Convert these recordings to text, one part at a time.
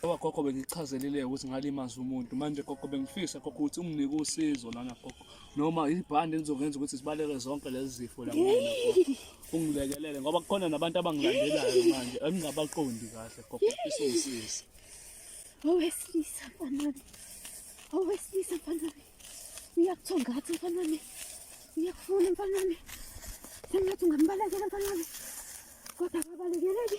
Ngoba gogo bengichazelile ukuthi ngalimaza umuntu manje gogo bengifisa gogo ukuthi unginike usizo lana gogo noma ibhande elizokwenza ukuthi sibaleke zonke lezi zifo la kumina gogo ungilekelele ngoba kukhona nabantu abangilandelayo manje engingabaqondi kahle gogo ngifisa ungisize owesilisa mfanami owesilisa mfanami uyakuthonga ngathi mfanami uyakufuna mfanami sengathi ungambalekela mfanami kodwa akabalekele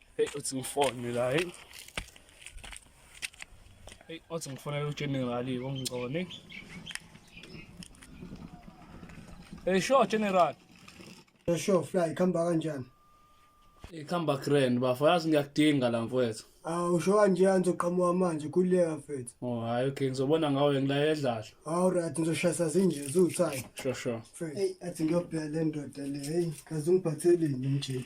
Hey uthi ngifone la hey. Hey uthi ngifonela uGeneral ongigcone. Hey sure General. Hey sure fly khamba kanjani? Ikhamba grand bafo yazi ngiyakudinga la mfowethu. Awu usho kanje angizoqhamuka manje kuleka mfethu. Oh hayi okay ngizobona ngawe ngilaye edlala. Awu right ngizoshayisa zinje zuthani. Sure sure. Hey athi ngiyobheka le ndoda le hey kaze ungiphatheleni mjidi.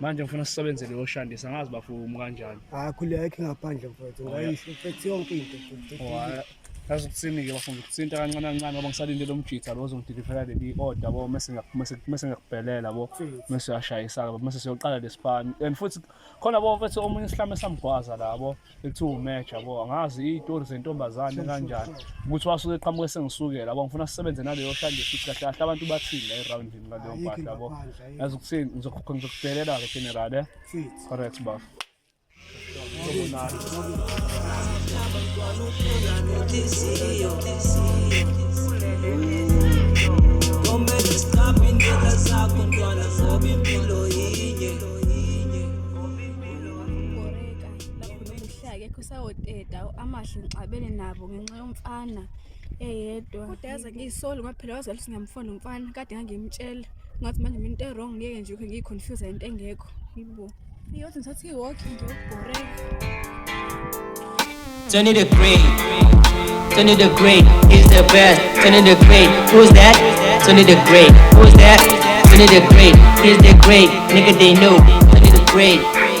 manje ngifuna sisebenzele yoshandisa ngazi bafumu kanjani hayi khuleka yakhe ngaphandle mfowethu oh, ngayisho mfethu yonke into yazi ukuthini-ke bafuna ukuthinta kancane kancane ngoba ngisalinde lo mjitha lo ozongidilivela leli i-order bo mese ngiyakubhelela bo mese uyashayisa-ke bo mese siyoqala lesipani and futhi khona bo mfethu omunye isihlame samgwaza labo ethi umatch yabo angazi iy'tori zentombazane kanjani ukuthi wasuke eqhamuka esengisukela yabo ngifuna sisebenze naleyo hlanje futhi kahle kahle abantu bathini la errawundini ngaleyo mpahla yabo yazi ukuthini ngizokubhelela-ke general e correct bafo Komele siqaphe indlela zakho ntwana ngoba impilo lapho bengihlala kekho sawoteta amahle ngixabene nabo ngenxa yomfana eyedwa kodwa yaze ngiyisoli ngoba phela wazali singamfona umfana kade ngangimtshela ngathi manje mina into e-wrong ngiyeke nje ukhe ngiyiconfuse into engekho yibo iyothi ngithatha i-walk ngiyokubhoreka Turn it a great, turn it a great, he's the best. Turn it a great, who's that? Turn it a great, who's that? Turn it a great, he's the great, nigga they know. Turn it a great.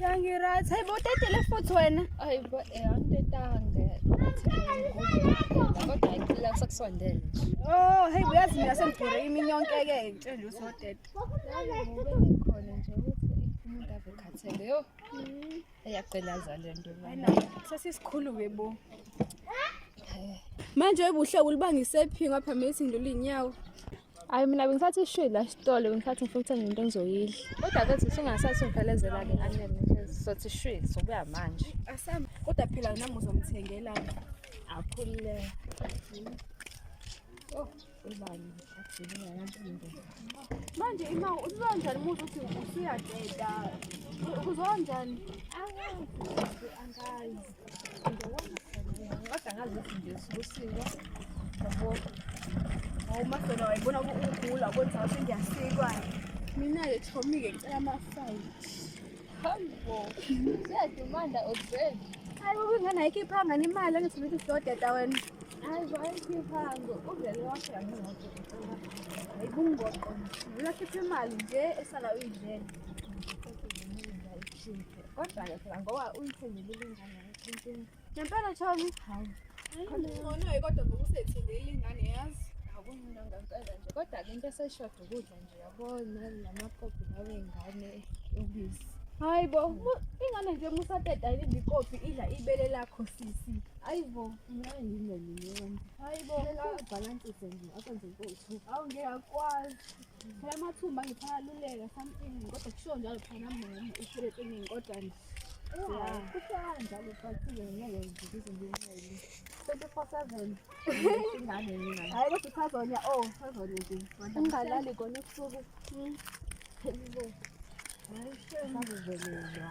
Yangi-right. Hayi bo utetile futhi wena. Hayi bo eh angitetanga. Kodwa ayicela kusakusondele. Oh, hey uyazi mina sengigure imini yonke ke ngitshela nje ukuthi otete. Khona nje ukuthi umuntu ave khathele. Yo. Eyaqelaza le nto. Wena sesisikhulu ke bo. Manje webuhle ulibangise phi ngapha mesi ngilula inyawo. Hayi mina bengisathi ishwi la sitolo bengisathi ngifuna ukuthenga into engizoyidla. Kodwa ke sisi ungasathi ungiphelezela ke anele nje sothi ishwi sokuya manje. Asam kodwa phela nami uzomthengela akhulile. Oh, ubani athini nganto. Manje ima uzonjani umuntu uthi usuyadeda. Uzonjani? Angazi. Angazi. Mina-ke Tommy-ke ngicela ama-fight. Hambo. Siyadumanda odveni. Hayi baba ingane ayikhiphanga imali angithi ukuthi siyodeda wena. Hayi bo ayikhiphanga uvele washaya ngemoto. Hayi bungoqo. Ngila khipha imali nje esala uyidlela. Kodwa-ke phela ngoba uyithengile ilingane yakho inkinga. Ngempela Chomi? Hayi. Ngcono-ke kodwa ngoba usethenge ilingane yazi. Akumina ngempela nje. Kodwa-ke into eseshoda ukudla nje yabo nali namakopi lawe ngane ubisi. Hayi bo, mu- ingane nje musateta yini ikopi idla ibele lakho sisi. Hayi bo, ngeke ngingene nje. Hayi bo, Ngicela ubhalansise nje akwenze inkosi. awu ngeke akwazi. phela amathumba ngiphalaluleka something kodwa kushiwo njalo phana mama uphile eningi kodwa nje kuhlala njalo phathile ngeke ngizize ngincele twenty four seven ingane mina hayi kodwa usazonya o oh, usazonya nje ungalali kona ebusuku hmm. hayi shame akuvelelwa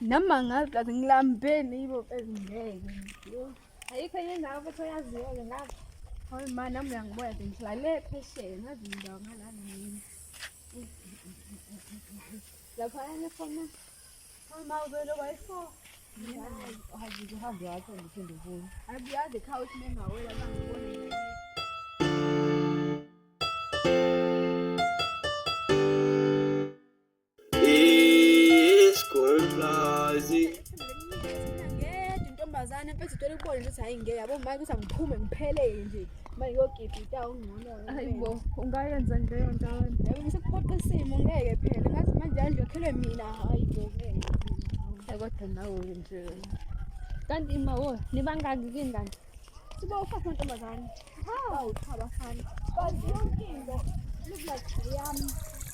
noma ngazi kathi ngilambeni yibo ezingeke ayikho enye indawo futhi oyaziyo-ke ngazi hayi ma nami uyangiboya nje ngilale phesheya ngazi indawo ngalana yini laphayana khona Ngeke intombazane mfethu ithola ukubona ukuthi hayi ngeke yabo manje ukuthi angiphume ngiphelele nje mayiyogida ita ungcono hayi bo ungayenza nje leyo nto yabo ngisiphoqa isimo ngeke phela ngathi manje anje khelwe mina hayi bo ngeke kodwa nawe nje kanti ima wo nibangaki kingani siba ufaka mantombazane hawu cha bafana kanti yonke into lubulaziyami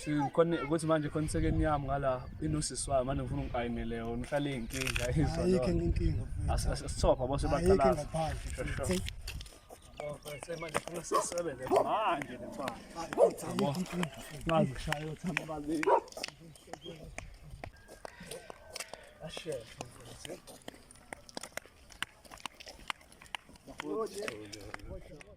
sikhona ukuthi manje khona isekeni yami ngala inosisi wayo manje ngifuna ungiqayinele yona uhlale inkinga izwa ayikho inkinga asithopha bose baqala Thank you.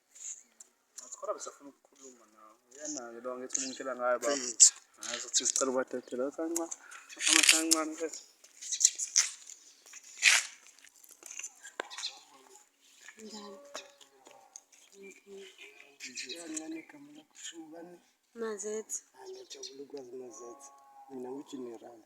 Kodwa besafuna ukukhuluma nawe. Uyena-ke lo ngithi umtshela ngayo baba. Hayi uzothi sicela ubadedela kancane. Ama kancane ke. Mazethi. Angijabula ukwazi mazethi. Mina ngijinerali.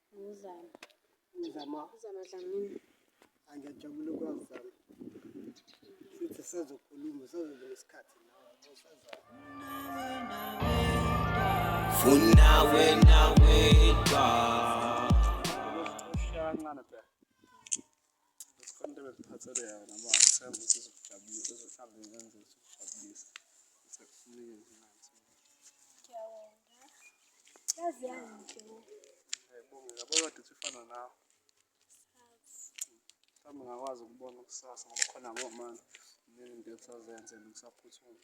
Ngumzamo. Umzamo. Umzamo Dlamini. Angiyajabula ukwazama. Futhi sazokhuluma, sazobe nesikhathi nawe. Funa wena wedwa. Ushaya kancane phela. Sikhona into ebeziphathele yona ngoba ngisenza ukuthi izokujabulisa, izohlambe ngenze ukuthi ukujabulisa. Sekufunile nje manje. Ngiyabonga. Yazi yangihle. Ngiyabonga. Yabo kodwa uthi ufana nawe. Mhlawumbe ngakwazi ukubona kusasa ngoba khona ngomani. Kuningi into esazenze nokusaphuthuma.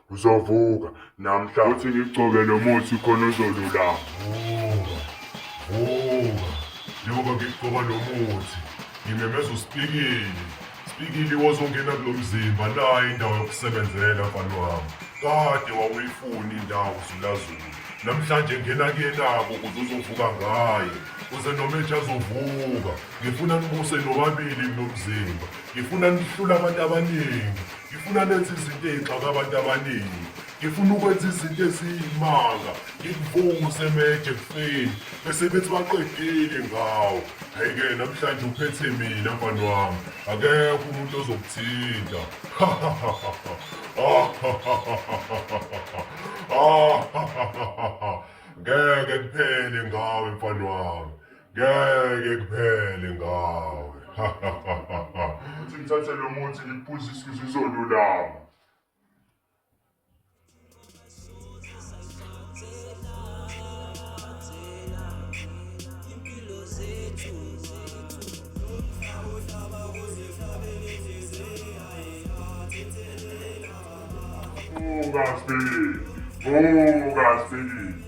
uzovuka namhla uthi ngigcobe lo muthi khona uzolulama vuka vuka njengoba ngigcoba lo muthi ngimemeza usipikili sipikili wozongena kulo mzimba nayo indawo yokusebenzela mfana wami kade wawuyifuni indawo zulazulu namhlanje ngena kuyenabo ukuze uzovuka ngayo kuze noma ethi azovuka ngifuna nibuse nobabili kulo mzimba ngifuna nihlule abantu abaningi ngifuna nenze izinto ey'xaka abantu abaningi ngifuna ukwenza izinto eziyimanga ngikuvunguse meje kufeni bese bethi baqedile ngawo hhayi-ke namhlanje uphethe mina mfani wami akekho umuntu ozokuthinta ngeke kuphele ngawe mfani wami ngeke kuphele ngawe ukuthi ngithathe lo muthi ngiphuze isisu izolulama Fugas, Billy! Fugas, Billy!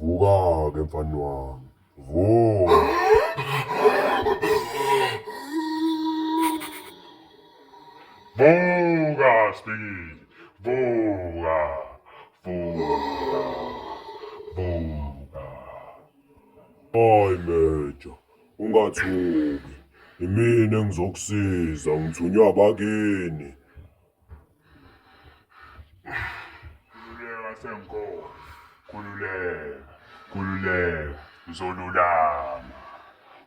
Vuka-ke mfana wami. Vuka. Vuka Sibili. Vuka. Vuka. Vuka. Hayi Mejo, ungathuki. Imina engizokusiza ngithunywa abakini. Kululeka senkosi. Kululeka. Kululeka. Uzolulama.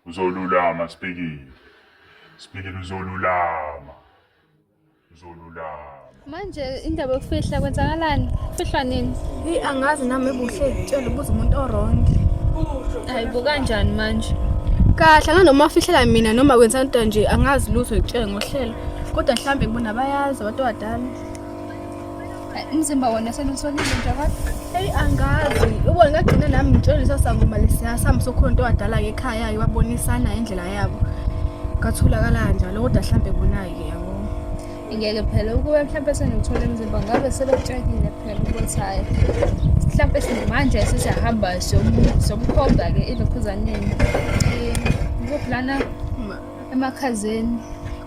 Uzolulama sibhekile. Sibhekile uzolulama. Uzolulama. Manje indaba yokufihla kwenzakalani? Fihlwa nini? Hey angazi nami ebuhle tshela ubuza umuntu orongi. Hayi bukanjani manje? Kahle nganoma afihlela mina noma kwenzani nje angazi lutho ngitshele ngohlelo. kodwa mhlawumbe ngibona bayazi abantu abadala umzimba wona selusolile nje abantu eyi angazi ubona ngagcina nami ngitshelisa sangoma lesiyasami sokhona into wadala-ke ekhaya iwabonisana indlela yabo katholakala kanjalo kodwa mhlawumbe bona-ke yabo ngeke phela ukube mhlawumbe sengiwuthole emzimba ngabe sebetshakile phela ukuthi hhayi mhlawumbe simanje sesiyahamba somkhomba-ke ilokhuzaneni um kuphi lana emakhazeni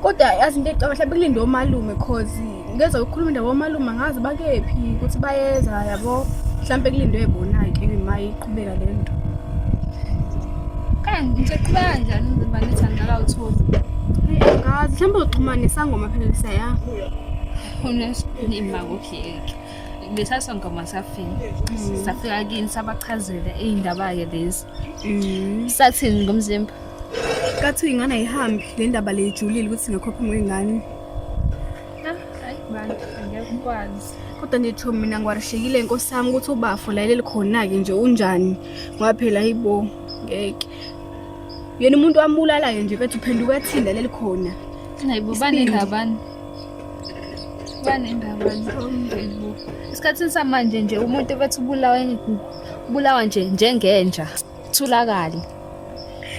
kodwa yazi into ecaba mhlawumbe kulinde omalume cause ngeza ukukhuluma indaba omalume angazi bakephi ukuthi bayeza yabo mhlawumbe kulindwe bona-ke ma iqhubeka le nto kanti nje qhubeka njani ngizoba nethanda kawutholi angazi mhlawumbe uxhumane isangoma phela lisaya unesinima kuhleki besasongoma safika mm. safika kini sabachazela iy'ndaba-ke lezi mm. sathini ngomzimba Kathiwa ingane ayihambi le ndaba le ijulile ukuthi ngekhophe ngoyingane. Ah, hayi bantu angeke ukwazi. Kodwa nje Thomi mina ngiwarishekile inkosi yami ukuthi ubafo layeleli khona-ke nje unjani ngoba phela yibo ngeke. Yena umuntu wambulalayo nje bethi uphenduka ethinda leli khona. Hayi bo bane ngabani? Bane ngabani? Isikhathini samanje nje umuntu bethi ubulawa ubulawa nje njengenja. Thulakali.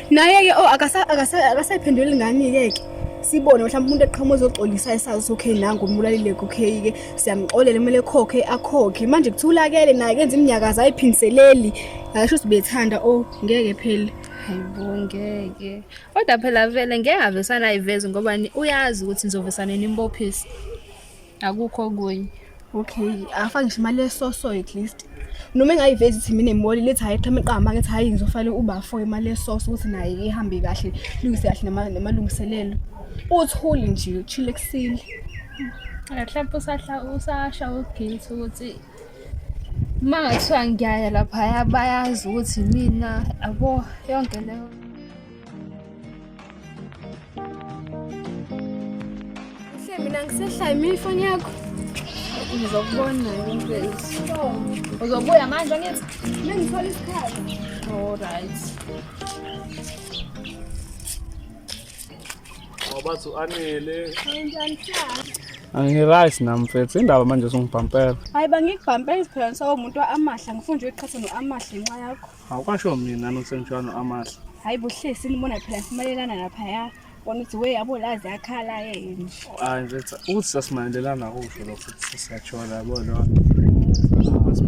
Naye ke oh akasa akasa akasayiphenduli ngani ke ke. Sibone mhlawumbe umuntu eqhamuka ezoxolisa esazi okay nangu umbulalile okay ke siyamxolela kumele khokhe akhokhe manje kuthulakele naye kenza iminyakaza ayiphindiseleli ngasho sibethanda oh ngeke phela hayibo ngeke kodwa phela vele ngeke avesana ayiveze ngoba uyazi ukuthi nizovesana nimbophisa akukho okunye okay afake ngisho imali yesoso at least noma engayivezi ithi mina imoli lethi hayi qhame qama ngithi hayi ngizofale ubafo imali yesoso ukuthi naye ihambe kahle lungise kahle namalungiselelo uthuli nje uchile ekusile mhlawumbe usahla usasha uguilt ukuthi uma ngathiwa ngiyaya laphaya bayazi ukuthi mina abo yonke leyo mina ngisehlaya mina ifoni yakho ngizokubona uzobuya manje angithi mina ngithola isikhathi allright wabathi u-anele angiright nam mfethu indaba manje sungibhampela hayi bangikubhampela isiphela ngisawumuntu wa-amahle ngifuna nje uyiqhathe no-amahle ngenxa yakho Awukwasho mina nosemshwano amahle. Hayi buhlesi nibona phela simalelana lapha ya. Bona ukuthi we yabo lazi yakhala yini. Hayi mfethu ukuthi sasimalelana kusho lokho ukuthi siyajola yabo lona.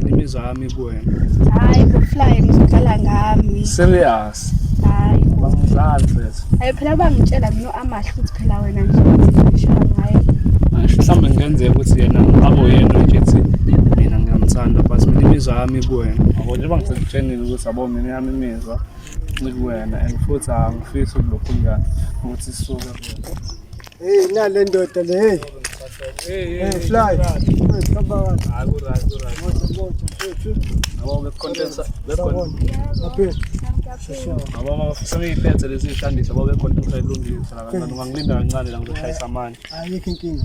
Imizwa yami kuwena. Hayi bufly ngizodlala ngami. Serious. Hayi. Bangidlali mfethu. Hayi phela bangitshela mina amahle ukuthi phela wena nje ushaya ngaye Asho mhlawumbe kungenzeka ukuthi yena abo yena nje ethi mina ngiyamthanda but mina imizwa yami kuwena yabo njengoba ngisekutshenile ukuthi yabo mina yami imizwa ikuwena and futhi angifisi ukulokhulukana ukuthi sisuke kuwena Hey nale ndoda le hey. Hey, fly. Sebeyiphethe lezi zishandisa baba bekhontensa ilungisa nakancane ungangilinda kancane la ngizoshayisa amanye. Ayikho inkinga.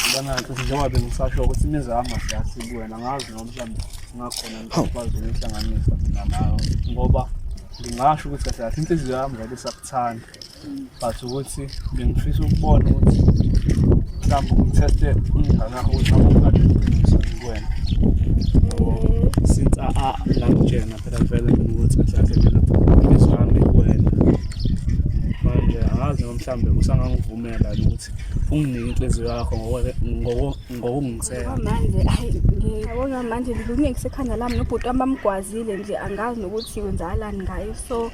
Ngibona ukuthi njengoba bengisasho ukuthi imizamo siyasi kuwena ngazi noma mhlawumbe ngakhona ngikwazi ukuyihlanganisa mina nawe ngoba ngingasho ukuthi kahle kahle inhliziyo yami ngabe isakuthanda. but ukuthi bengifisa ukubona ukuthi mhlawumbe ngitheste umngane wakho ukuthi awungalungisa kuwena since langitshena phela vele mina ukuthi mhlawumbe mina ngizwami kuwena manje angazi noma mhlawumbe usangangivumela ukuthi unginike inhliziyo yakho ngokungisela manje ayi ngiyabona manje ngilungekise ekhanda lami nobhuti wami bamgwazile nje angazi nokuthi wenzakalani ngayo so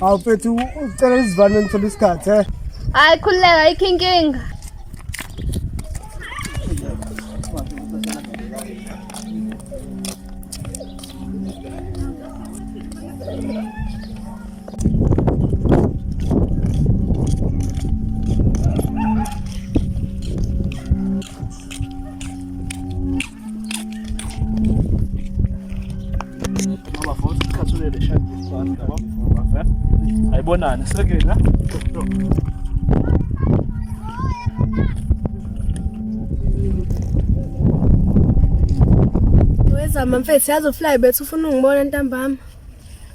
Hawu mfethu ucela izivane ngithola isikhathi eh. Hayi khululeka ayikho inkinga. Ayibonani sekela Wezama mfethu yazi ufly bethu ufuna ungibona ntambama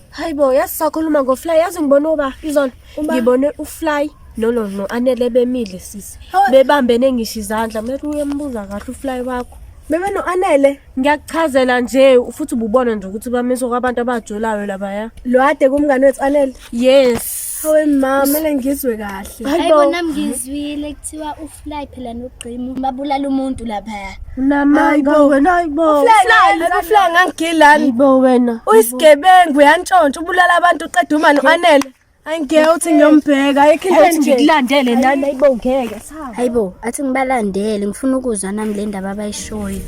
Hayibo yazi sakhuluma ngofly yazi ngibona uba izolo ngibone ufly No no no anele bemile sisi. Bebambene ngisho izandla. Mele uyembuza kahle ufly wakho. Bebe no anele. Ngiyakuchazela nje ufuthi ububona nje ukuthi bamisa kwabantu abajolayo laba ya. Lo ade kumngane wethu anele. Yes. Hawe mama, mele ngizwe kahle. Hayibo nami ngizwile kuthiwa ufly phela nogqimu babulala umuntu lapha. Namayibo wena hayibo. Ufly, ufly ngangigilani. Hayibo wena. Uyisigebengu yantshontsha ubulala abantu uqeda umani anele. Angeke uthi ngiyombheka ayikho into ethi ngikulandele nani ayibo ngeke sawa. Hayibo athi ngibalandele ngifuna ukuzwa nami le ndaba abayishoyo.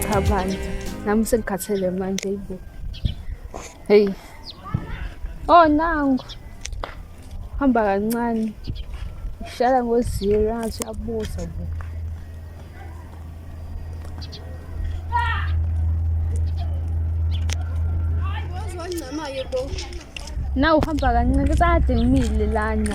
Cha bandla nami sengikhathele manje ayibo. Hey. Oh nangu. hamba kancane uhlala ngoziro angathi uyabuza bo na uhamba kancane kusade ngimile lana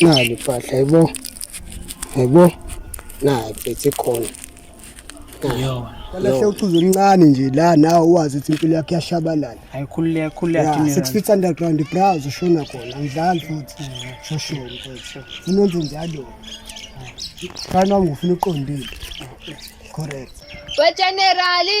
nali mpahla yebo yebo nayi phethe khona kalahle uchuzo oluncane nje la nawe uwazi ukuthi impilo yakho iyashabalala ayikhululeke khululeke six feet underground browse ushona khona ngidlali futhi shoshona mfethu unenze njalo kana ngifuna uqondile correct we generali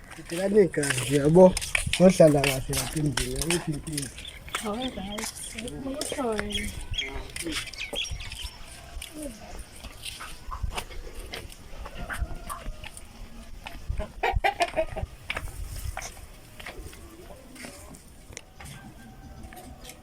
Ngicela negazi yabo ngohlala kahle lapha endlini ukuthi inkinga.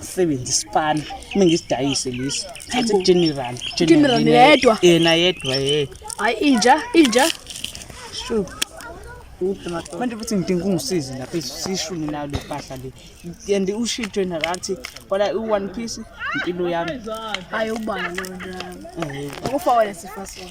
sebenza isipani uma ngisidayise lesi thatha general general yedwa yena yedwa ye hayi inja inja sure manje futhi ngidinga ungisize lapha sishuni nayo le mpahla le and ushitshwe nakathi kwala i-one piece impilo yami hayi ubani lona ukufa wena sifasona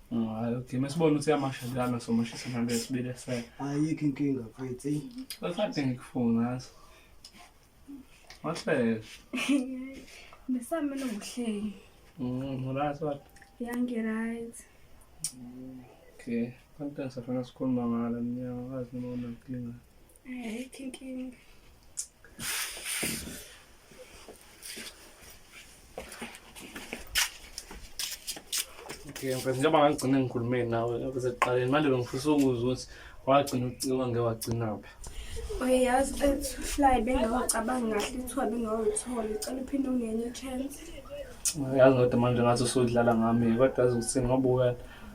Hayi, okay. Masibona ukuthi amasha njalo somashisa nalo esibile se. Ayikho inkinga mfethu. eyi. Bathathe ngikufuna ngaso. Wahleka. Besame nokuhleki. Mm, right what? Yangi right. Okay. Kanti safuna sikhuluma ngalo mnyaka wazi noma unankinga. ayikho inkinga okay mfethu njengoba ngagcina ngikhulume nawe besekuqaleni manje bengifisa ukuza ukuthi wagcina ucika ngewagcinaphi uyayazi ethu fly bengawucabanga kahle ithiwa bengawutholi cela uphinde ungenye chance uyazi ngodwa manje ngathi usudlala ngami kodwa azi ukuthi ngoba uwena